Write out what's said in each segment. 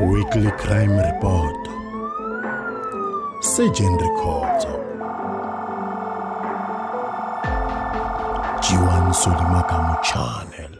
Weekly Crime Report Surgeon Rikhotso Jiwan Solimakamu Channel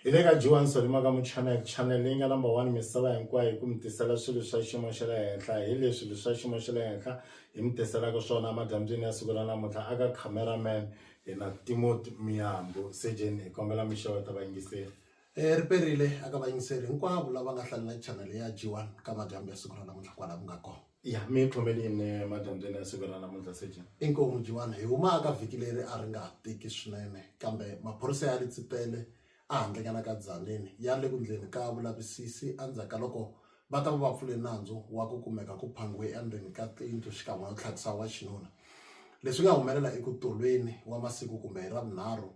hi le ka jiwan solimakamu channel channel leyi nga number one misava hinkwayo hi ku mi tisela swilo swa xiyimo xa le henhla hi leswi leswi swa xiyimo xa le henhla hi mi tiselaka swona emadyambyini ya siku ra namuntlha aka cameraman hina timoti miyambo sejeni hi kombela mi xeweta vayingiseri um ri perile aka vayingiseri hinkwavo lava nga hlalela chanele ya g one ka madyambu ya siku ra namuntlha kwala ku nga kona ya mi khomelini madyambyeni ya siku ra namuntlha sejeni inkomu g one hi humaka vhiki leri a ri nga tiki swinene kambe maphorisa ya ri tsipele Ehandle ka la ka Tzaneen ya le ku ndleni ka vulavisisi endzhaku ka loko va ta va va pfule nandzu wa ku kumeka ku phangiwe endzeni ka tiyindlu xikan'we no tlhakisa wa xinuna. Leswi nga humelela i ku tolweni wa masiku kumbe hi Ravunharhu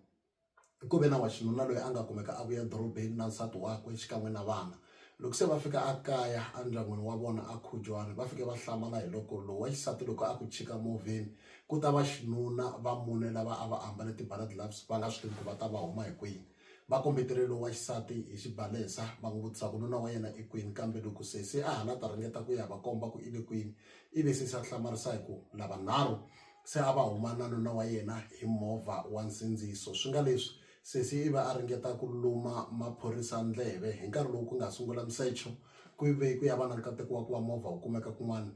ku ve na wa xinuna loyi a nga kumeka a vuya edorobeni na nsati wakwe xikan'we na vana. Loko se va fika akaya andyangwini wa vona a Khujwana va fike va hlamala hiloko lowu wa xisati loko a ku chika movheni ku ta va xinuna va mune lava a va ambale ti-bala gloves va nga swi tivi ku va ta va huma hi kwini. Va kombetele lowu wa xisati hi xibalesa va n'wi vutisa ku nuna wa yena i kwini kambe loko sesi a ha la ta ringeta ku ya va komba ku i le kwini i ve sesi a hlamarisa hi ku lavanharhu se a va huma na nuna wa yena hi movha wa nsindziso swi nga leswi Sesi i ve a ringeta ku luma maphorisa ndleve hi nkarhi lowu ku nga sungula misecho ku ve ku ya va na nkateko wa ku va movha wu kumeka kun'wana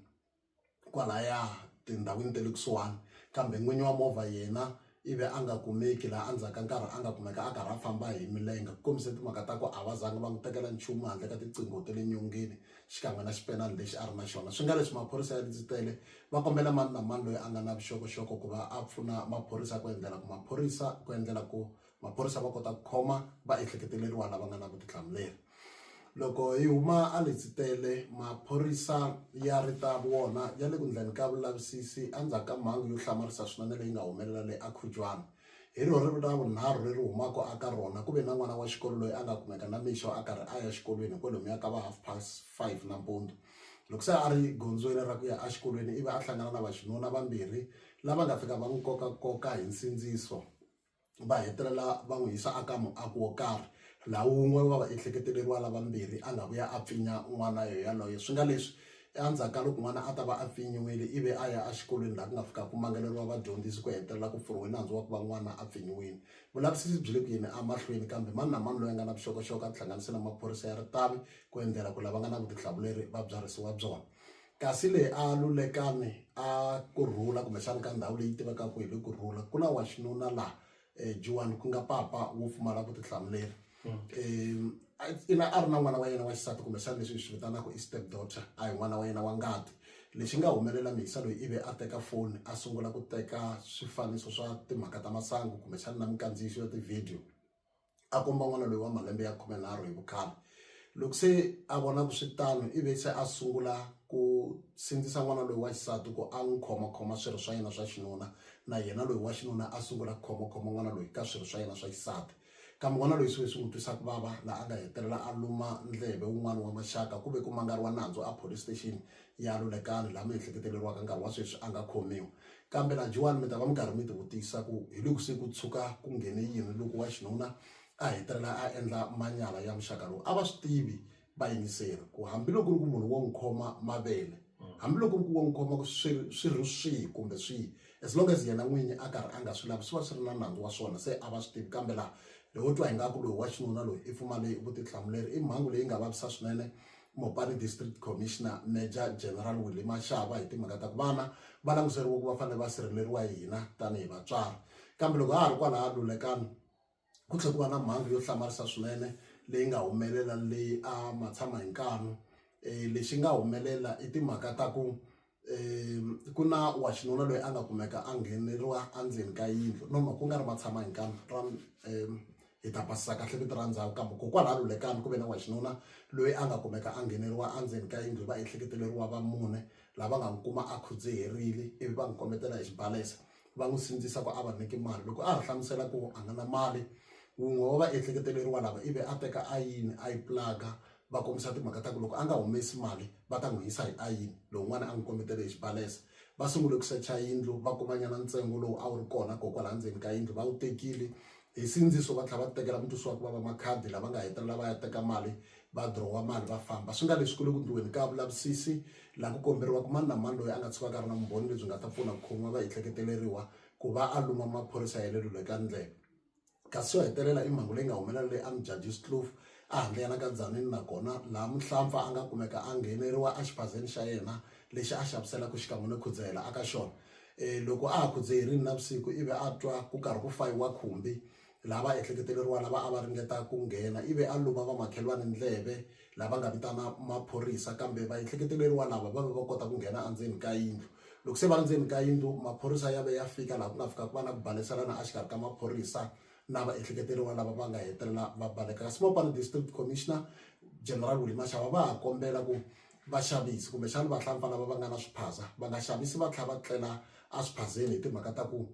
kwalaya tindhawini ta le kusuhani kambe n'winyi wa movha yena i ve a nga kumeki laha endzhaku ka nkarhi a nga kumeka a karhi a famba hi milenge ku kombise timhaka ta ku a va zanga va n'wi tekela nchumu handle ka tiqingho ta le nyongeni xikan'we na xipenani lexi a ri na xona. Swi nga leswi maphorisa ya ndzi-tele va kombela mani na mani loyi a nga na vuxokoxoko ku va a pfuna maphorisa ku endlela ku maphorisa ku endlela ku maphorisa va kota ku khoma vaehleketeleriwa lava nga na vutihlamuleri. Loko hi huma a ndzi-tele maphorisa ya ri ta vona ya le ku endleni ka vulavisisi endzhaku ka mhangu yo hlamarisa swinene leyi nga humelela le Akhujwana. Hi rona rivilo ra vunharhu leri humaka aka rona. Ku ve na n'wana wa xikolo loyi a nga kumeka namixo a karhi a ya xikolweni hi kwalomuya ka va half past five nampundzu. Loko se a ri gondzweni ra ku ya exikolweni ivi a hlangana na vaxinuna vambirhi lava nga fika va n'wi kokakoka hi nsindziso va hetelela va n'wi yisa aka muaku wo karhi laha wun'we wa vaehleketeleriwa lavambirhi a nga vuya a pfinya n'wana yaloye swi nga leswi Endzhaku ka loko n'wana a ta va a pfinyiwile ivi a ya exikolweni laha ku nga fika ku mangaleriwa vadyondzisi ku hetelela ku pfuriwe nandzu wa ku va n'wana a pfinyiwile. Vulavisisi byi le ku yeni emahlweni kambe mani na mani loyi a nga na vuxokoxoko a tihlanganise na maphorisa ya ritavi ku endlela ku lava nga na vutihlamuleri va byarhisiwa byona. Kasi le a Lulekani a ku rhula kumbexana ka ndhawu leyi tivekaka hi le ku rhula ku na wa xinuna laha eh, Juan ku nga papa wo pfumala vutihlamuleri ina a ri na n'wana wa yena wa xisati kumbexana leswi hi swi vitanaka i step daughter a hi n'wana wa yena wa ngati lexi nga humelela mihisa loyi ivi a teka foni a sungula ku teka swifaniso swa timhaka ta masangu kumbexana na minkandziyiso ya tivhidiyo a komba n'wana loyi wa malembe ya khumenharhu hi vukhale loko se a vona ku swi tano i ve se a sungula ku sindzisa n'wana loyi wa xisati ku a n'wi khomakhoma swirho swa yena swa xinuna na yena loyi wa xinuna a sungula ku khomakhoma n'wana loyi ka swirho swa yena swa xisati kambe n'wana loyi swi ve swi n'wi twisa ku vava laha a nga hetelela a luma ndleve wun'wana wa maxaka ku ve ku mangariwa nandzu a police station ya Lulekani laha miehleketeleriwaka nkarhi wa sweswi a nga khomiwi. Kambe lajiwani mi ta va mi karhi mi tivutisa ku hi loko se ku tshuka ku nghene yini loko wa xinuna a hetelela a endla manyala ya muxaka lowu. A va swi tivi vayingiseri ku hambiloko ku ri ku munhu wo n'wi khoma mavele hambiloko ku ri ku wo n'wi khoma ku swi ri swi ri swihi kumbe swihi as long as yena n'winyi a karhi a nga swi lavi swi va swi ri na nandzu wa swona se a va swi tivi kambe laha ho twa ingaku loyi wa xinuna loyi i pfumale vutihlamuleri i mhangu leyi nga vavisa swinene Mopani District Commissioner Major General Willie Mashaba hi timhaka ta ku vana va languteriwe ku va fanele va sirheleriwa hi hina tanihi vatswari kambe loko ha ha ri kwalaha lulekani ku tlhe ku va na mhangu yo hlamarisa swinene leyi nga humelela leyi a matshama hi nkanu um lexi nga humelela i timhaka ta ku ku na wa xinuna loyi a nga kumeka a ngheneriwa endzeni ka yindlu no ku nga ri ma tshama hi nkani ra hi ta basisa kahle vito ra ndhawu kambe ko kwala Lulekani ku ve na wa xinuna loyi a nga kumeka a ngheneriwa endzeni ka yindlu hi va ehleketeleriwa va mune lava nga n'wi kuma a khudziherile ivi va n'wi kombetela hi xibalesa va n'wi sindzisa ku a va nyiki mali loko a ha hlamusela ku a nga na mali wun'we wa va ehleketeleriwa lava ivi a teka ayini a yi pulaga va kombisa timhaka ta ku loko a nga humesi mali va ta n'wi yisa hi ayini lowun'wana a n'wi kombetele hi xibalesa va sungule ku secha yindlu va kumanyana ntsengo lowu a wu ri kona ko kwala ndzeni ka yindlu va wu tekile hi sindziso va tlhela va tekela mutusi wa ku vava makhadi lava nga hetelela va ya teka mali va drowa mali va famba swi nga leswi ku le ku ndliweni ka vulavisisi laha ku komberiwaka mani na mani loyi a nga tshukaka a ri na vumbhoni lebyi nga ta pfuna ku khomiwa va ehleketeleriwa ku va a luma maphorisa ya le lulekani ndlela kasi yo hetelela i mhangu leyi nga humelela leyi Amjadis Kloof a handleyana ka Tzaneen nakona laha muhlampfa a nga kumeka a ngheneriwa exiphazeni xa yena lexi a xaviselaka xikan'we no khudzahela aka xona um loko a ha khudze hi rini navusiku ivi a twa ku karhi ku fayiwa khumbi laha va ehleketeleriwa lava a va ringeta ku nghena ivi a luma vamakhelwani ndleve lava nga vitana maphorisa kambe va ehleketeleriwa lava va ve va kota ku nghena endzeni ka yindlu loko se va ri ndzeni ka yindlu maphorisa ya ve ya fika laha ku nga fika ku va na ku baleselana exikarhi ka maphorisa na va ehleketeleriwa lava va nga hetelela va baleka kasi mopani district commissioner general Willy Mashava va ha kombela ku vaxavisi kumbexana vahlampfa lava va nga na swiphaza va nga xavisi va tlhela va tlela eswiphazeni hi timhaka ta ku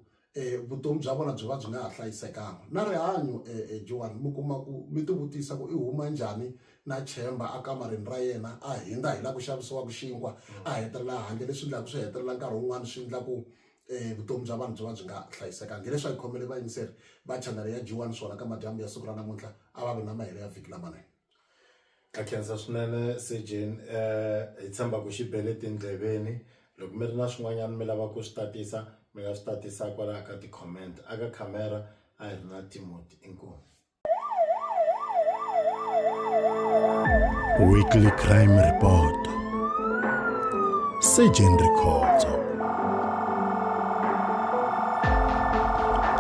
vutomi bya vona byi va byi nga ha hlayisekanga na rihanyo Joan mi kuma ku mi ti vutisa ku i huma njhani na chemba a kamareni ra yena a hindza hi la ku xavisiwaka xinkwa a hetelela handle leswi endlaka swi hetelela nkarhi wun'wani swi endla ku vutomi bya vanhu byi va byi nga hlayisekanga hileswi a hi khomele vayingiseri va chanele ya Joan swona ka madyambu ya siku ra namuntlha a va vi na mahelo ya vhiki lamanene Ndza khensa swinene Sejeni hi tshemba ku xi bele tindleveni loko mi ri na swin'wanyana mi lava ku swi tatisa mi nga swi tatisa kwalaya ka ti-comment a ka khamera a hi ri na Timothy inkomu Weekly Crime Report Sejeni Rikhotso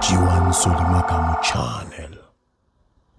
Jiwani Solima Kamu Channel